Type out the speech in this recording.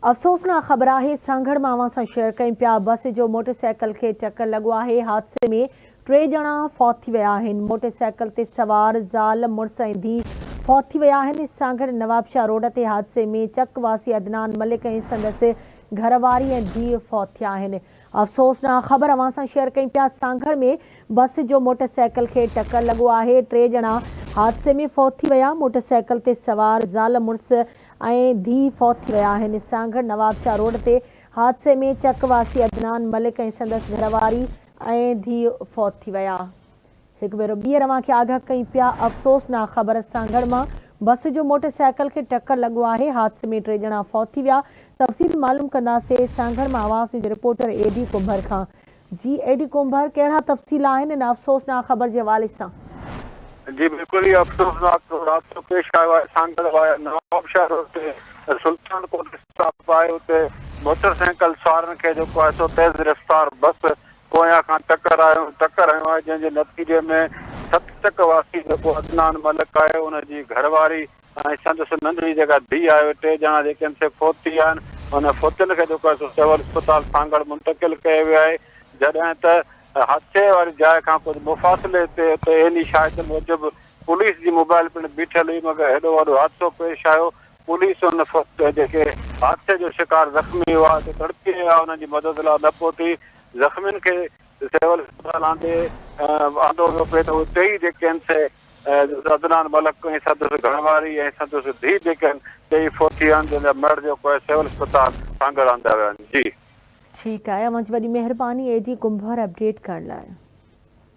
افسوسناڪ خبر آهي سانگهڙ مان اوهان سان شيئر ڪيم پيا بس جو موٽر سائيڪل کي ٽڪر لڳو آهي حادثي ۾ ٽي ڄڻا فوت ٿي ويا آهن موٽر سائيڪل تي سوار زال مڙس ۽ ڌي فوت ٿي ويا آهن سانگهڙ نوابشاهه روڊ تي حادثي ۾ چڪ واسي عدنان ملڪ ۽ سندس گهرواري ۽ ڌي فوت ٿيا آهن افسوسناڪ خبر اوهان سان شيئر ڪيم پيا سانگهڙ ۾ بس جو موٽر سائيڪل کي ٽڪر لڳو آهي ٽي ڄڻا حادثي ۾ فوت ٿي ويا موٽر سائيڪل تي سوار زال مڙس ۽ ڌيء فوت ٿي ويا آهن سانگهڙ نوابشاهه روڊ تي حادثي ۾ چڪ واسي عدنان ملڪ ۽ سندس گهرواري ۽ ڌيء فوت ٿي ويا هڪ ڀيرو ٻيهر اوهان کي آگاهه ڪيون پيا افسوسناڪ خبر سانگهڙ مان بس جو موٽر سائيڪل کي ٽڪر لڳو آهي حادثي ۾ ٽي ڄڻا فوت ٿي ويا تفصيل معلوم ڪنداسين سانگهڙ مان اوهان Sindh reporter A D Kumbhar کان جي اي ڊي ڪنڀر ڪهڙا تفصيل آهن ان افسوسناڪ خبر جي حوالي سان؟ جي بلڪل ئي افسوسناڪ رابطو پيش آيو آهي سانگهڙ وائي نوابشاهه روڊ تي سلطان ڪوٽ اسٽاپ آهي اتي موٽر سائيڪل سوارن کي جيڪو آهي سو تيز رفتار بس پويان کان ٽڪر آيو ٽڪر هنيو آهي جنهن جي نتيجي ۾ ست چڪ واسي جيڪو عدنان ملڪ آهي ان جي گهرواري ۽ سندس ننڍڙي جيڪا ڌيء آهي اهي ٽي ڄڻا جيڪي آهن سي فوت ٿي ويا آهن انهن فوتين کي جيڪو آهي سو سول اسپتال سانگهڙ منتقل ڪيو ويو آهي جڏهن ته حادثي واري جاء کان ڪجهه مفاصلي تي اتي عيني شاهدن موجب پوليس جي موبائل پڻ بيٺل هئي مگر هيڏو وڏو حادثو پيش آيو پوليس انهن فوت جيڪي حادثي جو شڪار زخمي هئا اتي تڙپي رهيا انهن جي مدد لاء نه پهتي زخمين کي سول اسپتال آندي آندو ويو پئي ته اهي ٽيئي جيڪي آهن سي عدنان ملڪ ۽ سندس گهر واري ۽ سندس ڌيء ڊڪن ٽيئي فوت ٿي ويا آهن جن جا مڙهه جو ڪوهه سول اسپتال سانگهڙ آندا ويا آهن جي. ٺيڪ آهي اوهان جي وڏي مهرباني اي جي ڪنڀر اپڊيٽ ڪرڻ لاء.